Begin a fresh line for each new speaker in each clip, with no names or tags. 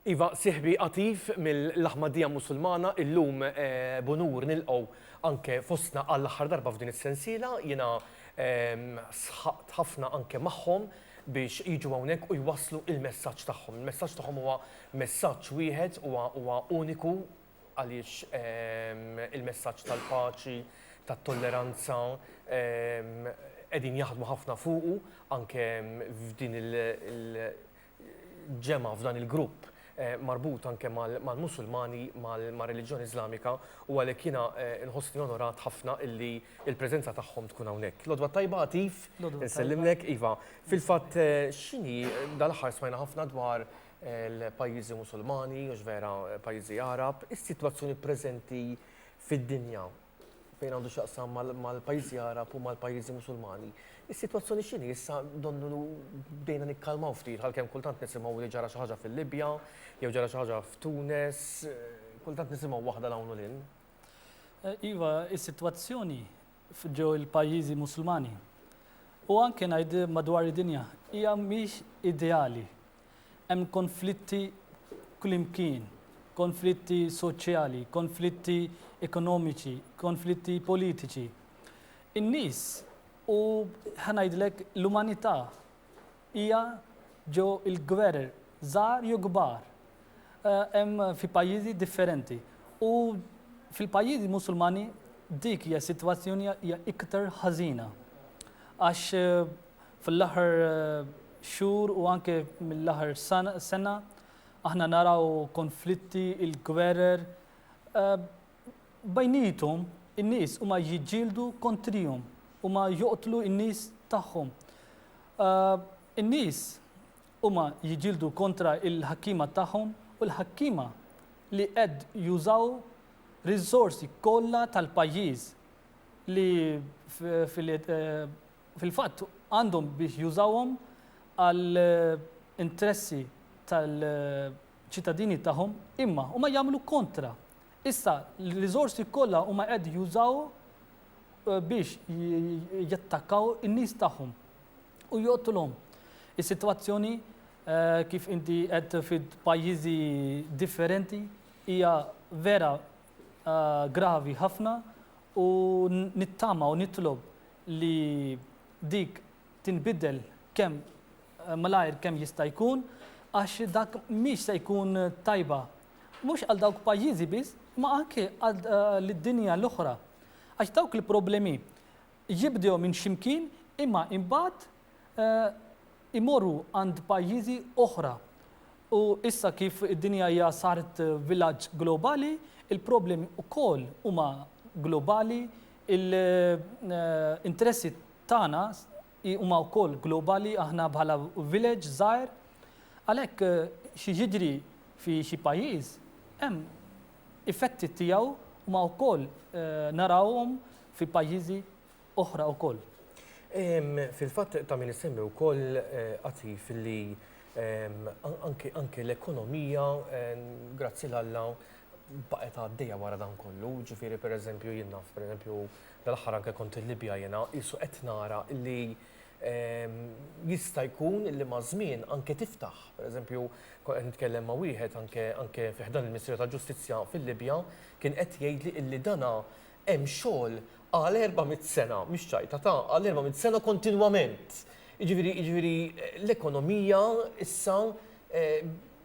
Iva, siħbi qatif mill-Aħmadija Musulmana illum eh, bunur nilqgħu anke fostna għall-aħħar darba f'din is-sensiela jiena ehm, sħaqt ħafna anke magħhom biex jiġu hawnhekk u jwasslu il-messaġġ tagħhom. Il-messaġġ tagħhom huwa messaġġ wieħed huwa uniku għaliex il-messaġġ tal-paċi, tat-tolleranza qegħdin jaħdmu ħafna fuqu anke f'din il-ġemgħa, f'dan il-grupp marbut anke mal-Musulmani, mar-reliġjon Iżlamika u għalhekk jiena nħossni onorat ħafna illi l-preżenza tagħhom tkun hawnhekk. L-odwa tajba Għatif, insellimlek, iva, fil-fatt x'inhi, dal-aħħar smajna ħafna dwar l-pajjiżi Musulmani, mhux vera pajjiżi Għarab, is-sitwazzjoni preżenti fid-dinja fejn għandu x'jaqsam mal-pajjiżi Għarab u mal-pajjiżi Musulmani. Is-sitwazzjoni x'inhi issa donnu bdejna nikkalmaw ftit għalkemm kultant nisimgħu li ġara xi ħaġa fil-Libja jew ġara xi ħaġa f'Tunes, kultant nisimgħu waħda l hawn u lil.
Iva, is-sitwazzjoni ġew il-pajjiżi Musulmani u anke ngħid madwar id-dinja hija mhix ideali Hemm konflitti kullimkien, konflitti soċjali, konflitti ekonomiċi, konflitti politiċi. In-nies u ħa ngħidlek l-umanità hija ġo l-gwerer żgħar jew kbar. Eh, hemm fi pajjiżi differenti. U fil-pajjiżi Musulmani dik hija sitwazzjoni hija iktar ħażina. Għax eh, Fl-aħħar xhur u anke mill-aħħar sena aħna naraw konflitti, il-gwerer. Bejniethom in-nies huma jiġġieldu kontrihom, huma joqtlu n-nies tagħhom. In-nies huma jiġġieldu kontra l-ħakkiema tagħhom u l-ħakkiema li qed jużaw riżorsi kollha tal-pajjiż li Fil-fatt, għandhom biex jużawhom għal interessi tal-ċittadini tagħhom, imma huma jagħmlu kontra. Issa, l-riżorsi kollha huma qed jużaw eh, biex jattakkaw in-nies tagħhom u joqtulhom. Is-sitwazzjoni eh, kif inti qed fil-pajjiżi differenti hija vera gravi ħafna u nittama u nitlob li dik tinbidel kemm malajr kemm jista' jkun għax dak mhix se jkun tajba mhux għal dawk pajjiżi biss imma anke lid-dinja l-oħra għax dawk il-problemi jibdew minn xi mkien imma imbagħad imorru għand pajjiżi oħra u issa kif id-dinja hija saret vilaġġ globali, il-problemi wkoll huma globali, l-interessi tagħna huma wkoll globali aħna bħala village żgħir. Għalhekk xi jiġri fi xi pajjiż hemm effetti tiegħu huma wkoll narawhom fi pajjiżi oħra wkoll.
Fil-fatt ta' min isemmi wkoll qatif li anke l-ekonomija grazzi l-Alla baqgħet għaddejja wara dan kollu, ġifieri pereżempju jien naf pereżempju dal-aħħar anke kont il-Libja jiena qisu qed nara li jista' jkun li maż-żmien anke tiftaħ. Pereżempju kont qed nitkellem ma' wieħed anke fi ħdan il-Ministeru tal-Ġustizzja fil-Libja kien qed jgħidli li dana hemm xogħol għal erba' mitt sena, mhix ċajta, ta' għal erba' mitt sena kontinwament. Jiġifieri jiġifieri l-ekonomija issa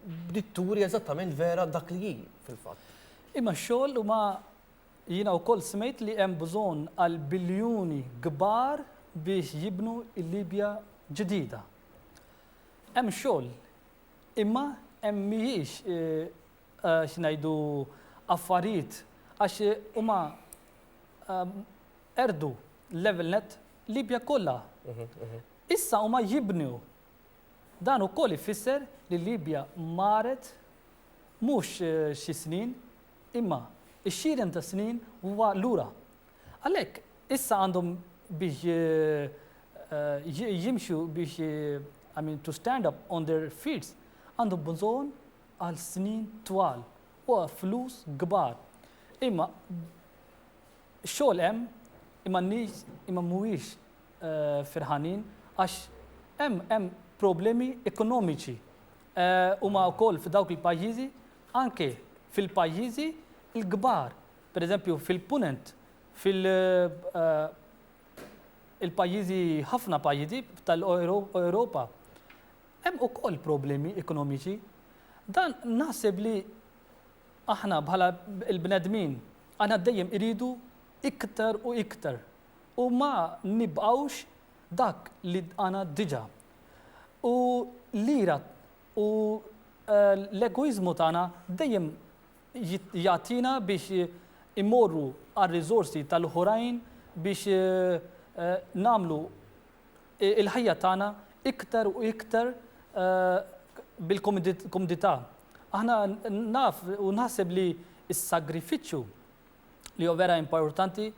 bdiet turi eżattament vera dak li hi fil-fatt. Imma x-xogħol
huma jiena wkoll smejt li hemm bżonn għal biljuni kbar biex jibnu l-Libja ġdida. Hemm xogħol, imma hemm mhijiex x'ngħidu, affarijiet għax huma qerdu l-level nett Libja kollha. Issa huma jibnu. Dan ukoll ifisser li Libja marret mhux xi snin, imma x-xieren ta' snin huwa lura. Għalhekk issa għandhom biex jimxu biex, I mean, to stand up on their feet, għandhom bżonn għal snin twal u għal flus kbar. Imma x-xogħol hemm imma n-nies imma mhuwiex ferħanin għax hemm hemm problemi ekonomiċi. Huma wkoll f'dawk il-pajjiżi anke fil-pajjiżi l-kbar. Pereżempju fil-Punent fil il-pajjiżi ħafna pajjiżi tal-Ewropa Hemm ukoll problemi ekonomiċi. Dan naħseb li aħna bħala l-bnedmin aħna dejjem iridu iktar u iktar u ma nibqgħux dak li għana diġa. U l-ira u l-egoiżmu tagħna dejjem jagħtina biex immorru għar-riżorsi tal-oħrajn biex nagħmlu il-ħajja tagħna iktar u iktar bil-komdità. Aħna naf u naħseb li s-sagrifiċċju li huwa vera importanti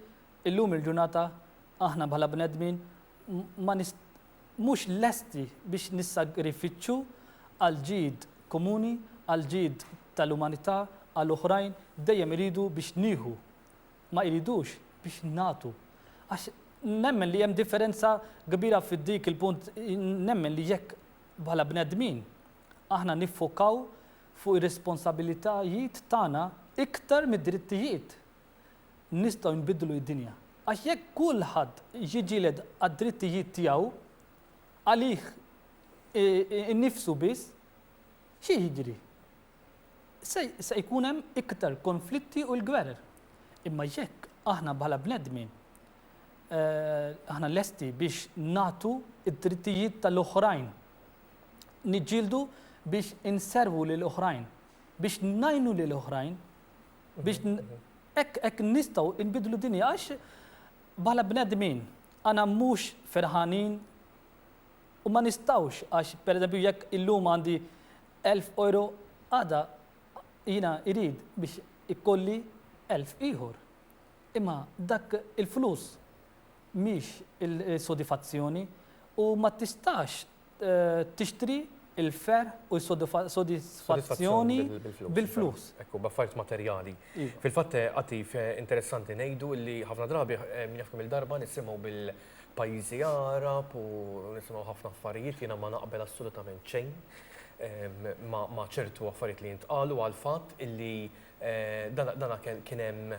illum il-ġurnata aħna bħala bnedmin ma mhux lesti biex nissagrifiċċu għal ġid komuni, għal ġid tal-umanità, għal oħrajn, dejjem iridu biex nieħu ma jridux biex nagħtu għax nemmen li hemm differenza kbira fi dik il-punt nemmen li jekk bħala bnedmin aħna niffokaw fuq ir-responsabilitajiet tagħna iktar mid-drittijiet nistgħu nbiddlu d-dinja. Għax jekk kulħadd jiġġieled għad-drittijiet tiegħu għalih innifsu biss, xi jiġri? se jkun hemm iktar konflitti u l-gwerer. Imma jekk aħna bħala bnedmin aħna lesti biex nagħtu d-drittijiet tal-oħrajn, niġġieldu biex inservu lil oħrajn, biex ngħinu lil oħrajn, biex hekk nistgħu nbidlu dinja għax bħala bnedmin għana mhux ferħanin u ma nistgħux għax pereżempju jekk illum għandi Elf euro għada jiena jrid biex ikolli elf ieħor. Imma dak il-flus mhix is-sodifazzjoni u ma tistax tixtri l-ferħ u s-sodisfazzjoni bil-flus. Hekk hu, b'affarijiet
materjali. Fil-fatt, Għatif, interessanti ngħidu li ħafna drabi, min jaf kemm-il darba nisimgħu pajjiżi Għarab u nisimgħu ħafna affarijiet jiena ma naqbel assolutament xejn ma' ċertu affarijiet li jintqalu għal fatt illi dana kien hemm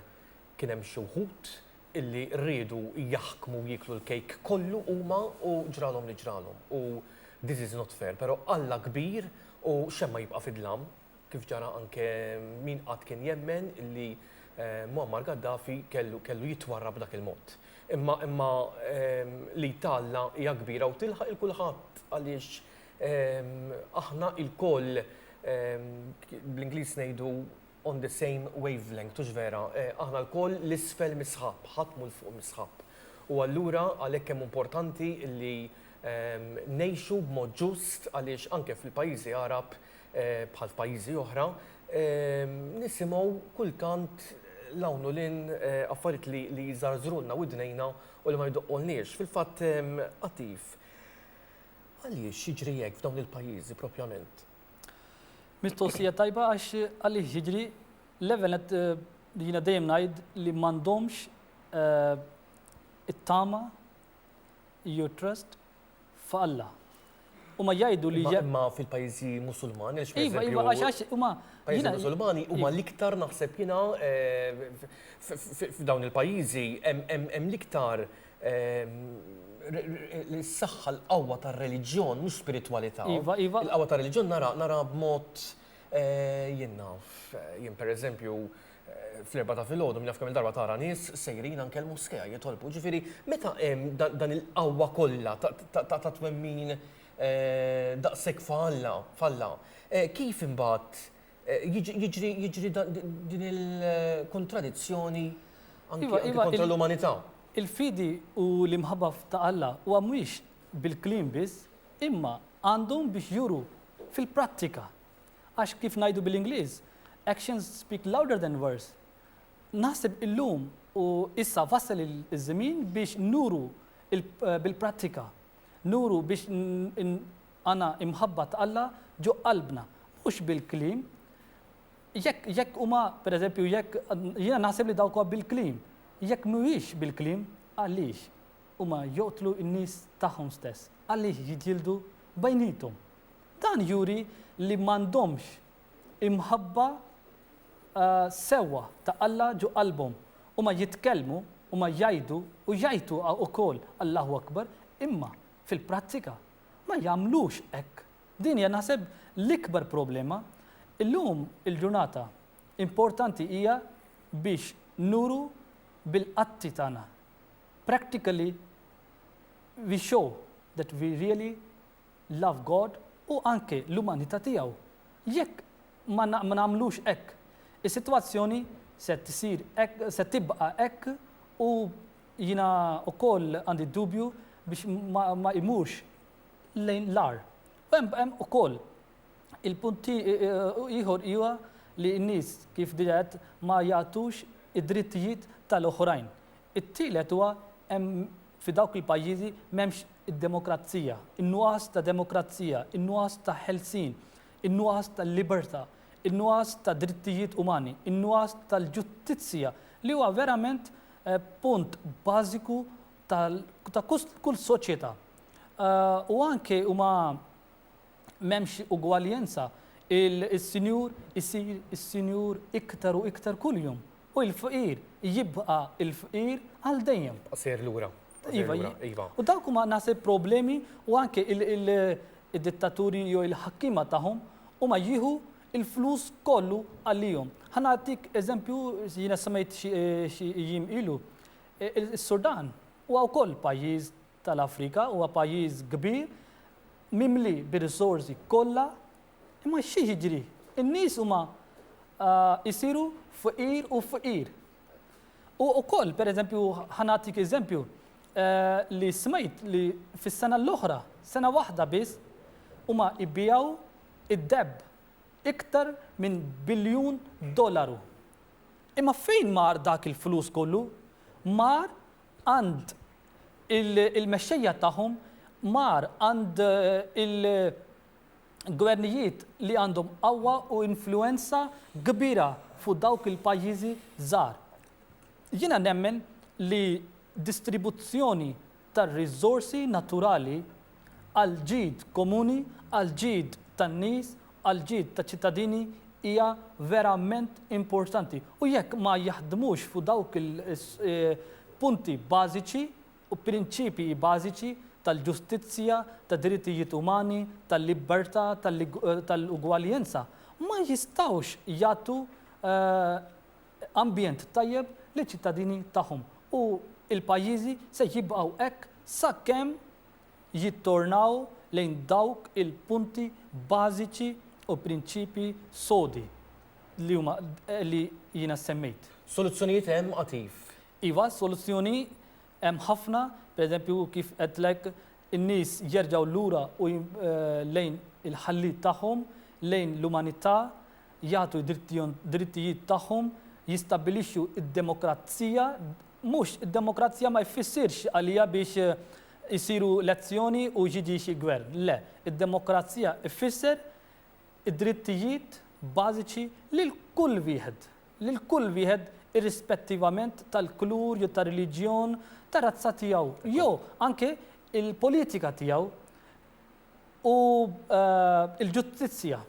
kien hemm xi wħud illi riedu jaħkmu jieklu l-kejk kollu huma u ġralhom li ġralhom u this is not fair pero' Alla kbir u x'hemm ma jibqa' fid-dlam kif ġara anke min qatt kien jemmen li Muammar Gaddafi kellu kellu jitwarra b'dak il-mod. Imma imma li talla hija kbira u tilħaq il kulħadd għaliex aħna il-koll bl-Ingliż ngħidu on the same wavelength, hux vera? Aħna l-koll l-isfel mis-sħab, ħadd mhu l-fuq mis-sħab. U allura għalhekk hemm importanti li ngħixu b'mod ġust għaliex anke fil-pajjiżi Għarab bħal f'pajjiżi oħra, nisimgħu kultant 'l hawn u 'l hinn affarijiet li li jżarżrulna widnejna u li ma jdoqqulniex. Fil-fatt, Għatif, għaliex jiġri hekk f'dawn il-pajjiżi propjament?
Mistoqsija tajba għax għaliex jiġri, l-ewwel nett jiena dejjem ngħid li m'għandhomx it-tama jew it-trust f'Alla. Huma jgħidu li. Imma fil-pajjiżi
Musulmani għax Iva, iva, għax
huma. Pajjiżi Musulmani
huma iva. l-iktar naħseb jiena eh, f'dawn il-pajjiżi hemm l-iktar eh, s-saħħa l-qawwa tar-reliġjon mhux spiritwalità. Iva, iva. Il-qawwa tar-reliġjon nara nara b'mod Jien naf. Jien pereżempju, fl-Erbgħa ta' filgħodu min jaf kemm-il darba tara nies sejrin anke l-Moskea jitolbu. Ġifieri, meta hemm dan il-qawwa kollha ta' twemmin daqshekk f'Alla, f'Alla, kif imbagħad jiġri jiġri din il-kontradizzjoni anke kontra l-umanità? Il-fidi
u l-imħabba ta' Alla huwa mhuwiex bil-kliem biss, imma għandhom biex juru Fil-prattika, għax kif ngħidu bil-Ingliż, actions speak louder than words, naħseb illum u issa wasal iż-żmien biex nuru bil-prattika, nuru biex għandna l-mħabba t'Alla ġo qalbna, mhux bil-kliem. Jekk jekk huma, pereżempju, jekk jiena naħseb li dawk huwa bil-kliem. Jekk mhuwiex bil-kliem, għaliex? Huma joqtlu n-nies tagħhom stess. Għaliex jiġġieldu bejniethom? Dan juri li m'għandhomx imħabba sewwa ta' Alla ġo qalbhom. Huma jitkellmu, huma jgħidu u jgħajtu ukoll Allahu Akbar, imma fil-prattika ma jagħmlux hekk. Din hija naħseb l-ikbar problema. Illum il-ġurnata importanti hija biex nuru bil-atti tagħna Practically we show that we really love God u anke l-umanità tiegħu. Jekk ma nagħmlux hekk, is-sitwazzjoni se tsir hekk, se tibqa' hekk u jiena wkoll għandi d-dubju biex ma imurx lejn l-agħar. U hemm ukoll il-punti ieħor huwa li n-nies kif diġà ma jagħtux id-drittijiet tal-oħrajn. It-tielet huwa hemm fi dawk il-pajjiżi m'hemmx id-demokrazija, in-nuqqas ta' demokrazija, in-nuqqas ta' ħelsien, in-nuqqas ta' libertà, in-nuqqas ta' drittijiet umani, in-nuqqas tal-ġustizzja li huwa verament punt bażiku ta' kull soċjetà. U anke huma m'hemmx ugwaljenza, is-sinjur isir is-sinjur iktar u iktar kuljum u l-fqir jibqa' l-fqir għal dejjem. Jibqa' sejjer lura.
Iva, iva.
U dawk huma naħseb problemi u anke il-dittaturi jew il-ħakkiema tagħhom huma jieħu l-flus kollu għalihom. Ħa nagħtik eżempju, jiena semmejt xi jiem ilu, is-Sudan huwa wkoll pajjiż tal-Afrika huwa pajjiż kbir mimli bir-risorsi kollha imma xi jiġri? In-nies huma jsiru fqir u fqir. U wkoll, pereżempju, ħa nagħtik eżempju li smajt li fis-sena l-oħra, sena waħda biss, huma jbiegħu d-deheb iktar minn biljun dollaru. Imma fejn mar dak il-flus kollu? Mar għand il-mexxejja tagħhom, mar għand il-gvernijiet li għandhom qawwa u influwenza kbira fuq dawk il-pajjiżi żgħar. Jiena nemmen li distribuzzjoni tar-riżorsi naturali, għall-ġid komuni, għall-ġid tan-nies, għall-ġid taċ-ċittadini hija verament importanti. U jekk ma jaħdmux fuq dawk il-punti bażiċi u prinċipji bażiċi tal-ġustizzja, tad-drittijiet umani, tal-libertà, tal-ugwaljenza, ma jistgħux jagħtu ambjent tajjeb liċ-ċittadini tagħhom u l-pajjiżi se jibqgħu hekk sakemm jittornaw lejn dawk il-punti bażiċi u prinċipji sodi li huma li jiena semmejt. Soluzzjonijiet hemm
għad iv. Iva, soluzzjoni
hemm ħafna, pereżempju kif għedtlek in-nies jerġgħu lura u lejn il-Ħalliet tagħhom, lejn l-umanità, jagħtu d-drittijiet tagħhom, jistabbilixxu d-demokrazija, Mhux, id-demokrazija ma jfissirx għalija biex isiru lezzjoni u jiġi xi gvern. Le, id-demokrazija jfisser id-drittijiet bażiċi lil kull wieħed, lil kull wieħed irrispettivament tal-kulur jew tar-reliġjon, tar-razza tiegħu jew anke l-politika tiegħu u l-ġustizzja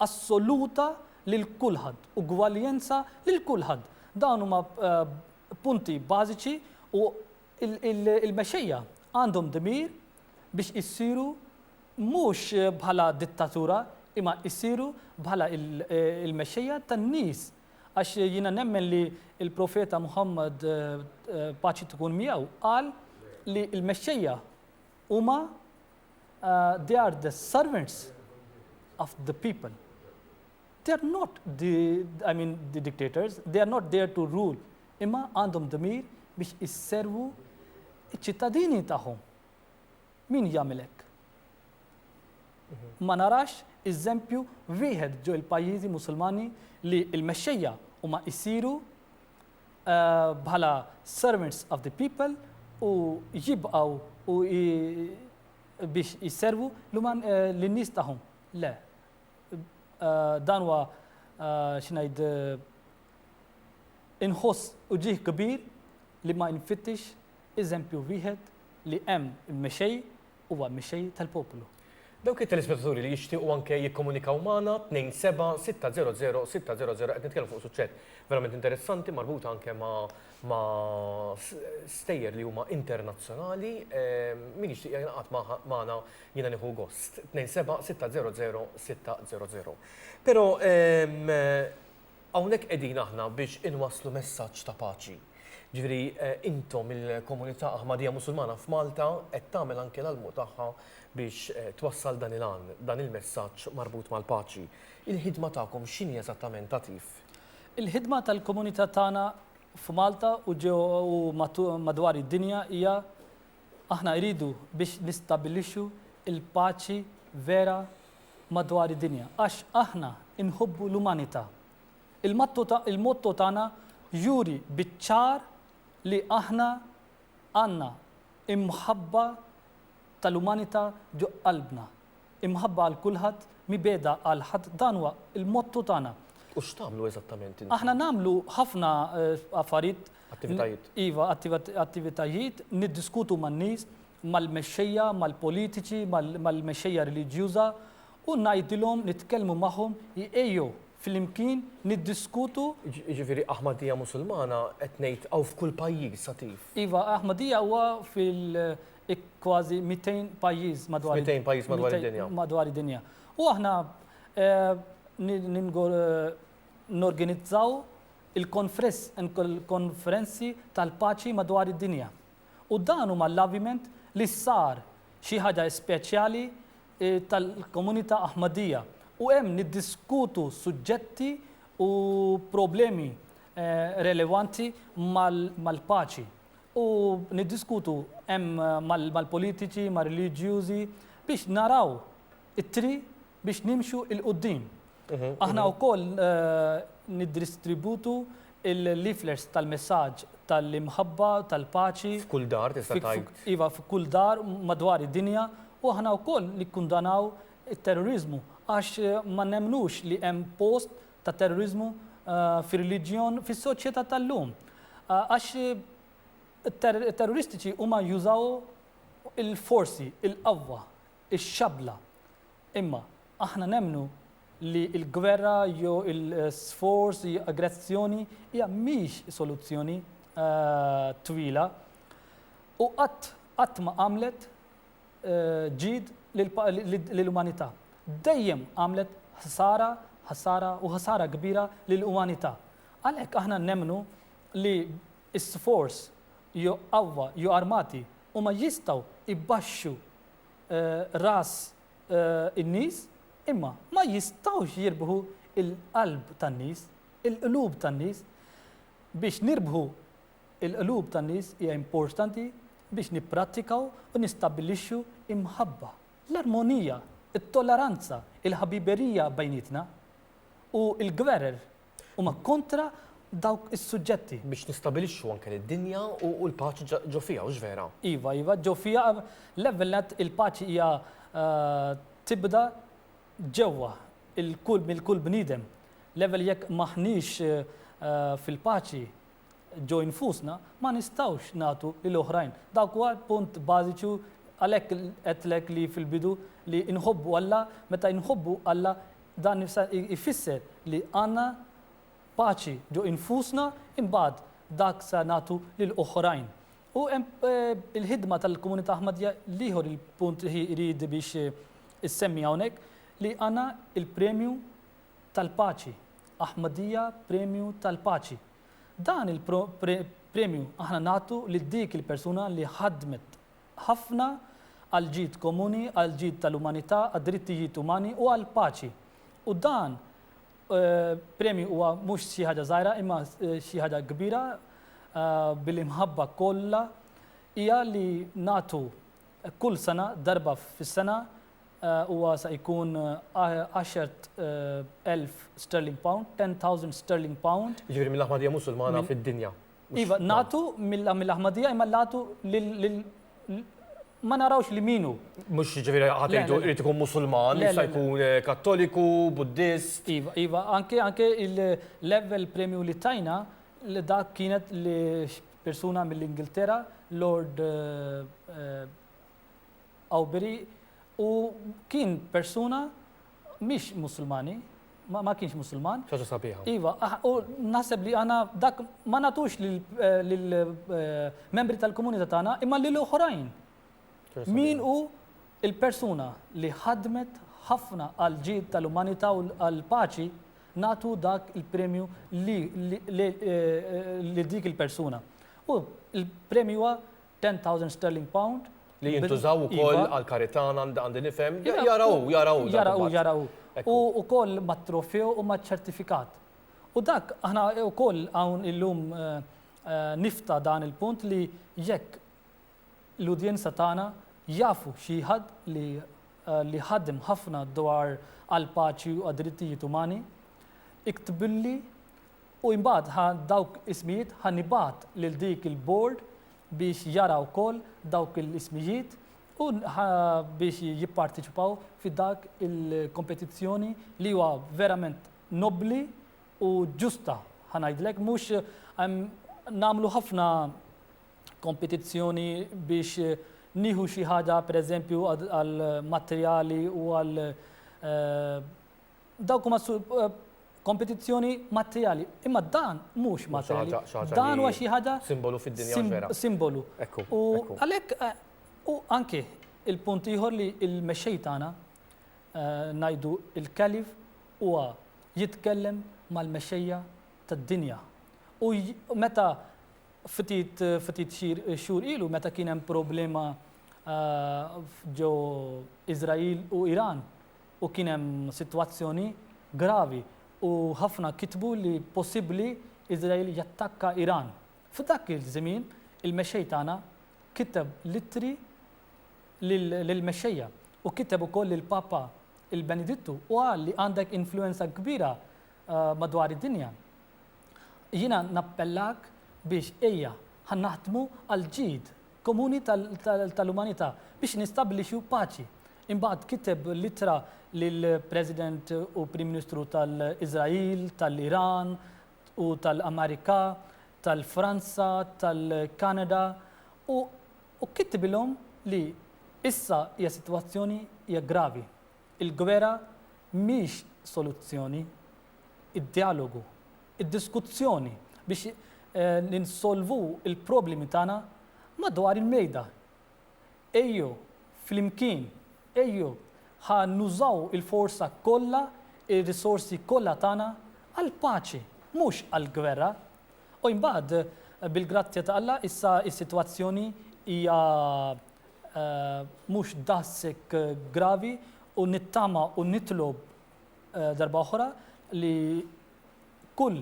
assoluta lil kulħadd, ugwaljenza lil kulħadd. Dawn huma punti bażiċi u l-mexxejja għandhom dmir biex isiru mhux bħala dittatura imma jsiru bħala l-mexxejja tan-nies għax jiena nemmen li l-Profeta Muħammad, paċi tkun miegħu, qal li l-mexxejja huma they are the servants of the people. They are not the, I mean, the dictators, they are not there to rule. Imma għandhom dmir biex isservu ċittadini tagħhom. Min jagħmilek? Mhm. Ma narax eżempju wieħed ġo il-pajjiżi Musulmani li l-mexxejja huma jsiru bħala servants of the people u jibqgħu u biex jisservu lin-nies tagħhom. Le. Dan huwa x'ngħid inħoss uġigħ kbir li ma nfittix eżempju wieħed li hemm mexej huwa Mexxej tal-Poplu. Dawk
it-telespettaturi li jixtiequ anke jikkomunikaw magħna, 27-600-600, qed nitkellmu fuq suġġett verament interessanti marbuta anke ma' stejjer li huma internazzjonali, min jixtieq jingħaqad magħna jiena nieħu gost, 27-600-600. Però Hawnhekk qegħdin aħna biex inwasslu messaġġ ta' paċi. Ġifieri intom il-komunità Aħmadija Musulmana f'Malta qed tagħmel anke l-almu tagħha biex twassal dan il-għan, dan il-messaġġ marbut mal-paċi. Il-ħidma tagħkom x'inhi eżattament Atif? Il-ħidma
tal-komunità tagħna f'Malta u madwar id-dinja hija Aħna jridu biex nistabbilixxu l-paċi vera madwar id-dinja għax aħna nħobbu l-umanità. Il-motto tagħna juri biċ-ċar li aħna għandna l-mħabba tal-umanità ġo qalbna. Imħabba għal kulħadd, mibegħda għal ħadd dan huwa l-motto tagħna. U x'tagħmlu
eżattament intom? Aħna nagħmlu
ħafna affarijiet Attivitajiet.
Iva,
attivitajiet, niddiskutu man-nies, mal-mexxejja, mal-politiċi, mal-mexxejja reliġjuża u ngħidilhom, nitkellmu magħhom, ejjew flimkien niddiskutu. Jiġifieri
Ahmadija Musulmana qed ngħid hawn f'kull pajjiż sa tif. Iva, Ahmadija
huwa fil-kważi 200 pajjiż madwar id-dinja. 200 pajjiż madwar id-dinja.
Madwar id-dinja.
U aħna norganizzaw il-konferenzi tal-paċi madwar id-dinja. U dan hu mal-aviment li sar xi ħaġa speċjali tal-komunità Ahmadiyya u hemm niddiskutu suġġetti u problemi relevanti mal-paċi u niddiskutu hemm mal-politiċi, mar-reliġjużi biex naraw it-triq biex nimxu 'il quddiem. Aħna wkoll niddristributu l-leaflers tal-messaġġ tal-imħabba, tal-paċi. F'kull dar, tista'
tgħid. Iva, f'kull dar
madwar id-dinja u aħna wkoll nikkundanaw it-terroriżmu għax ma nemmnux li hemm post ta' terroriżmu fir-reliġjon fis-soċjetà tal-lum. Għax it-terroristiċi huma jużaw il-forsi, il-qawwa, ix-xabla. Imma aħna nemmnu li l-gwerra jew il-sforz jew aggressjoni hija mhix soluzzjoni twila u qatt qatt ma għamlet ġid lill-umanità. Dejjem għamlet ħsara, ħsara u ħsara kbira lill-umanità. Għalhekk aħna nemmnu li s-sforz jew qawwa jew armati huma jistgħu jbaxxu ras in-nies, imma ma jistgħux jirbħu l-qalb tan-nies, il-qlub tan-nies. Biex nirbħu l-qlub tan-nies hija importanti biex nipprattikaw u nistabbilixxu l-mħabba, l-armonija, it-tolleranza, il-ħbiberija bejnietna u l-gwerer Huma kontra dawk is-suġġetti. Biex nistabilixxu
anke lid-dinja u l-paċi ġo fiha, hux vera? Iva, iva, ġo fiha.
L-ewwel nett il-paċi hija tibda ġewwa il-kull minn kull bniedem. L-ewwel jekk m'aħniex fil-paċi ġo infusna, ma nistgħux nagħtu lil oħrajn. Dak huwa l-punt bażiċu għalhekk għedtlek li fil-bidu li nħobbu Alla, meta nħobbu Alla Dan ifisser li għandna paċi ġo infusna imbagħad dak sa nagħtu lil oħrajn. U hemm il-ħidma tal-komunità Ahmadija l-ieħor il-punt li jrid biex issemmi hawnhekk li għandna il-premju tal-paċi, Ahmadija Premju tal-Paċi. Dan il-premju aħna nagħtu lil dik il-persuna li ħadmet ħafna għall-ġid komuni, għall-ġid tal-umanità, għad-drittijiet umani u għall-paċi. U dan premju huwa mhux xi ħaġa żgħira imma xi ħaġa kbira bil-imħabba kollha hija li nagħtu kull sena darba fis-sena huwa sa jkun 10,000 sterling pound, 10,000 sterling pound. Jiġifieri mill-aħmadija Musulmana
fid-dinja. Iva, natu
mill-Ahmadija imma natu lil ma narawx li minu. Mux ġiviri
ħatejdu irrit ikun musulman, jista' jkun eh, kattoliku, buddist. Iva, iva, anke
anke il-level premju li tajna li dak kienet li persuna mill-Ingilterra, Lord eh, eh, Awberi u kien persuna mhix Musulmani, ma kienx Musulman. Xi ħaġa sabiħa. Iva,
u
naħseb li għandna dak ma nagħtux lill-membri tal-komunità tagħna imma lil oħrajn. Min hu il-persuna li ħadmet ħafna għall-ġid tal-umanità u għall-paċi nagħtu dak il-premju lil dik il-persuna. U l-premju huwa 10,000 sterling pound. Li jintużaw
ukoll għall-karità għandi nifhem. Jara hu, jara hu. Jara hu, jara hu. U
wkoll mat-trofew u maċ-ċertifikat. U dak aħna wkoll hawn illum nifta' dan il-punt li jekk l-udjenza tagħna jafu xi ħadd li ħadem ħafna dwar għall-paċi u għad-drittijiet umani, iktbilli U imbagħad ħa dawk ismijiet ħa nibgħat lil dik il-board biex jara wkoll dawk l-ismijiet u ħa biex jipparteċipaw fi dak il-kompetizzjoni li huwa verament nobbli u ġusta ħa ngħidlek mhux nagħmlu ħafna kompetizzjoni biex nieħu xi ħaġa pereżempju għall-matrijali u għal Dawk huma kompetizzjoni materjali. Imma dan mhux materjali. Dan huwa xi ħaġa simbolu fid-dinja
vera. Simbolu. U
għalhekk u anke il-punt ieħor li l-mexxej tagħna ngħidu il-kalif huwa jitkellem mal-mexxejja tad-dinja. U meta ftit ftit xhur ilu meta kien hemm problema ġo Iżrael u Iran, u kien hemm sitwazzjoni gravi u ħafna kitbu li possibbli Iżrael jattakka Iran. F'dak iż-żmien il-Mexxej tagħna kiteb l-ittri lill-mexxejja u kiteb ukoll lill-Papa il-Benedittu u qal li għandek influwenza kbira madwar id-dinja. Jiena nappellak biex ejja, ħa naħdmu għall-ġid komuni tal-umanità biex nistabbilixxu paċi. Imbagħad kiteb l-ittra lill-President u Prim Ministru tal-Iżrael, tal-Iran u tal-Amerika, tal-Franza, tal-Kanada u kittibilhom li issa hija sitwazzjoni hija gravi. Il-gwerra mhix soluzzjoni. Id-djalogu, id-diskuzzjoni biex ninsolvu l-problemi tagħna madwar il-mejda. Ejjew flimkien, ejjew ħa nużaw il-forza kollha, ir-risorsi kollha tagħna għall-paċi, mhux għall-gwerra. U imbagħad, bil-grazzja ta' Alla, issa s-sitwazzjoni hija mhux daqshekk gravi u nittama u nitlob darba oħra li kull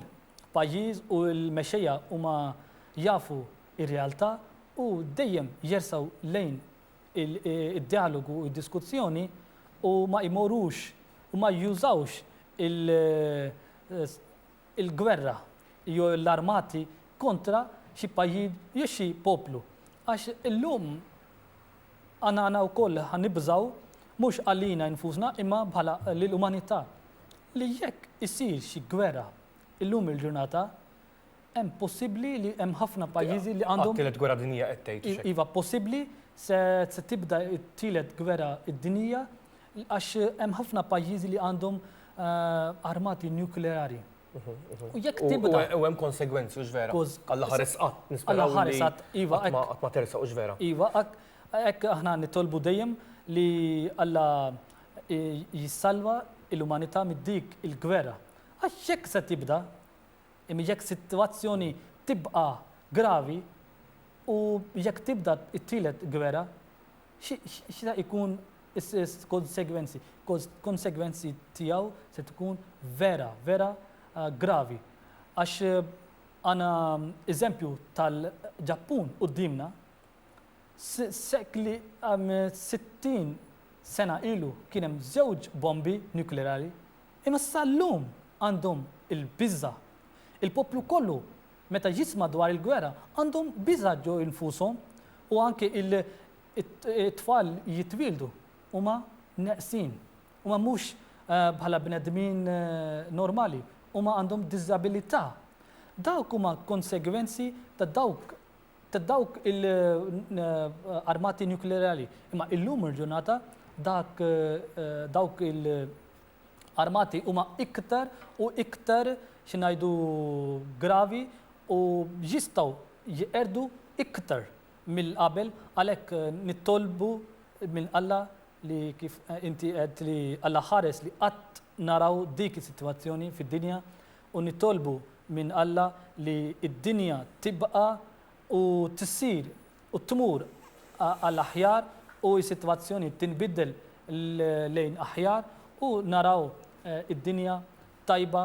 pajjiż u l-mexxejja huma jafu r-realtà u dejjem jersgħu lejn id-djalogu u d-diskussjoni u ma jmorrux u ma jużawx il il-gwerra jew l-armati kontra xi pajjiż jew xi poplu. Għax illum aħna wkoll ħa nibżgħu mhux għalina nfusna imma bħala lill-umanità li jekk isir xi gwerra illum il-ġurnata hemm possibbli li hemm ħafna pajjiżi li għandhom. Għat-Tielet Gwerra Dinjija qed tgħid.
Iva possibbli
se tibda t-Tielet Gwerra Dinjija Għax hemm ħafna pajjiżi li għandhom armati nukleari. U jekk tibda. U hemm konsegwenzi, u
vera. Alla ħares qatt, nispera. ħares qatt,
iva. Qatt ma tersa, u
vera. Iva, hekk
aħna nitolbu dejjem li Alla jissalva l-umanità mid-dik il-gwerra. Għax jekk se tibda, jekk sitwazzjoni tibqa' gravi, u jekk tibda t-tielet gwerra, x'se jkun is-konsegwenzi. Konsegwenzi tiegħu se tkun vera, vera gravi. Għax għandna eżempju tal-Ġappun quddiemna, sekli 60 sena ilu kien hemm żewġ bombi nukleari, imma sal-lum għandhom il-biża'. Il-poplu kollu Meta jisimgħu dwar il-gwerra għandhom biża' ġo nfushom u anke it-tfal li jitwieldu huma neqsin. Huma mhux bħala bnedmin normali, huma għandhom diżabilità. Dawk huma konsegwenzi ta' dawk ta' dawk il-armati nuklearali. Imma illum il-ġurnata dak dawk il armati huma iktar u iktar, xi ngħidu, gravi u jistgħu jqerdu iktar mill qabel għalhekk nitolbu minn Alla li kif inti għedt li Alla ħares li qatt naraw dik is-sitwazzjoni fid-dinja u nitolbu minn Alla li d-dinja tibqa' u tissir u tmur għal aħjar u s-sitwazzjoni tinbidel lejn aħjar u naraw id-dinja tajba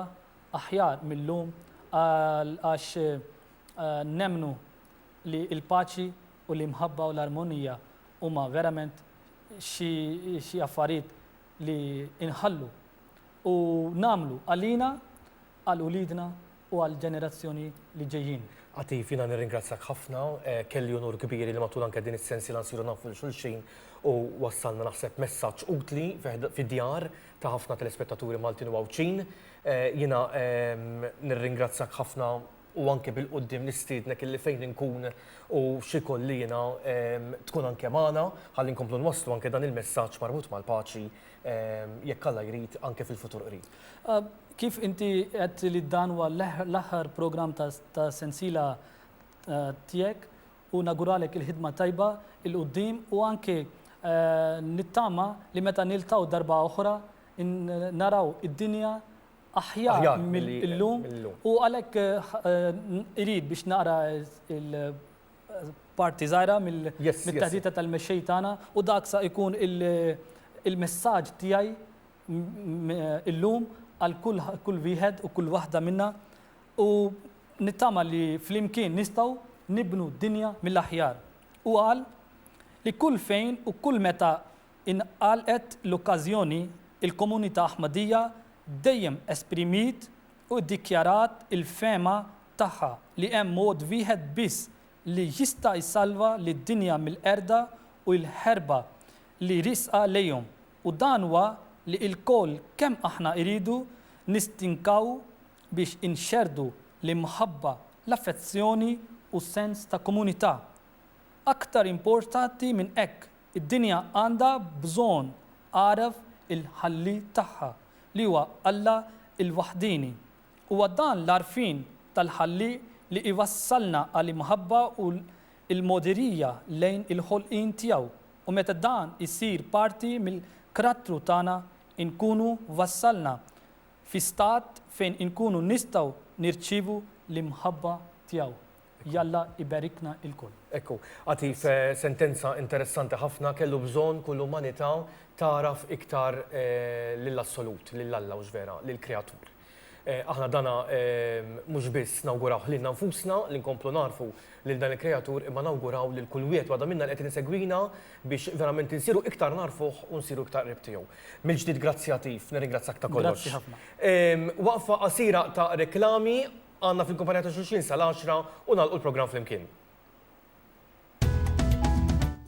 aħjar mil-lum għax nemmnu li l-paċi u l-imħabba u l-armonija huma verament xi affarijiet li nħallu u nagħmlu għalina għal uliedna u għall-ġenerazzjoni li ġejjin. Għatif, jiena
nirringrazzjak ħafna, kelli unur kbir li matul anke din is-sensiela nsiru nafu lil xulxin u wassalna naħseb messaġġ utli fid-djar ta' ħafna telespettaturi Maltin u Għawdxin. Jiena nirringrazzjak ħafna u anke bil-quddiem nistiednek illi fejn inkun u x'ikolli jiena tkun anke magħna ħalli nkomplu nwasslu anke dan il-messaġġ marbut mal-paċi jekk Alla jrid, anke fil-futur qrib. Kif inti
għedt li dan huwa l-aħħar programm ta' sensiela tiegħek u nawguralek il-ħidma tajba 'il quddiem u anke nittama li meta niltqgħu darba oħra naraw id-dinja aħjar mill-lum u għalhekk irid biex naqra parti żgħira mit-taħdita tal-mexxej tagħna u dak sa jkun il-messaġġ tiegħi illum għal kull wieħed u kull waħda minna u nittama li flimkien nistgħu nibnu dinja mill-aħjar. Hu qal li kull fejn u kull meta ingħalqet l-okkażjoni, il-komunità Aħmadija dejjem esprimiet u ddikjarat il-fehma tagħha li hemm mod wieħed biss li jista' jsalva lid-dinja mill-qerda u l-ħerba li riesqa lejhom u dan huwa li ilkoll kemm aħna iridu nistinkaw biex inxerrdu l-imħabba, l-affezzjoni u s-sens ta' komunità. Aktar importanti minn hekk, id-dinja għandha bżonn għaraf il-ħalli tagħha li huwa Alla l-waħdieni. Huwa dan l-għarfien tal-Ħallieq li jwassalna għal imħabba u l-mogħdirija lejn il-ħolqien tiegħu u meta dan isir parti mill-krattru tagħna inkunu wassalna fi stat fejn inkunu nistgħu nirċievu l-imħabba tiegħu. Jalla iberikna ilkoll. Ekku. Għatif
sentenza interessanti ħafna, kellu bżonn kull umanità tagħraf iktar lill-Assolut, lil Alla, hux vera, lill-Kreatur. Aħna dana mhux biss nawgurawh lilna nfusna li nkomplu nagħrfu lil dan il-Kreatur imma nawguraw lil kull wieħed waħda minna li qed insegwina biex verament insiru iktar nagħrfuh u nsiru iktar qrib tiegħu. Mill-ġdid grazzi Għatif, nirringrazzjak ta' kollox. Grazzi ħafna.
Waqfa qasira
ta' reklami Għandna fil-kumpanija ta' xulxin sal-għaxra u nagħlqu l-programm flimkien.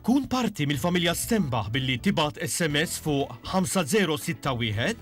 Kun parti mill-familja Stenbaħ billi tibgħat SMS fuq 5061.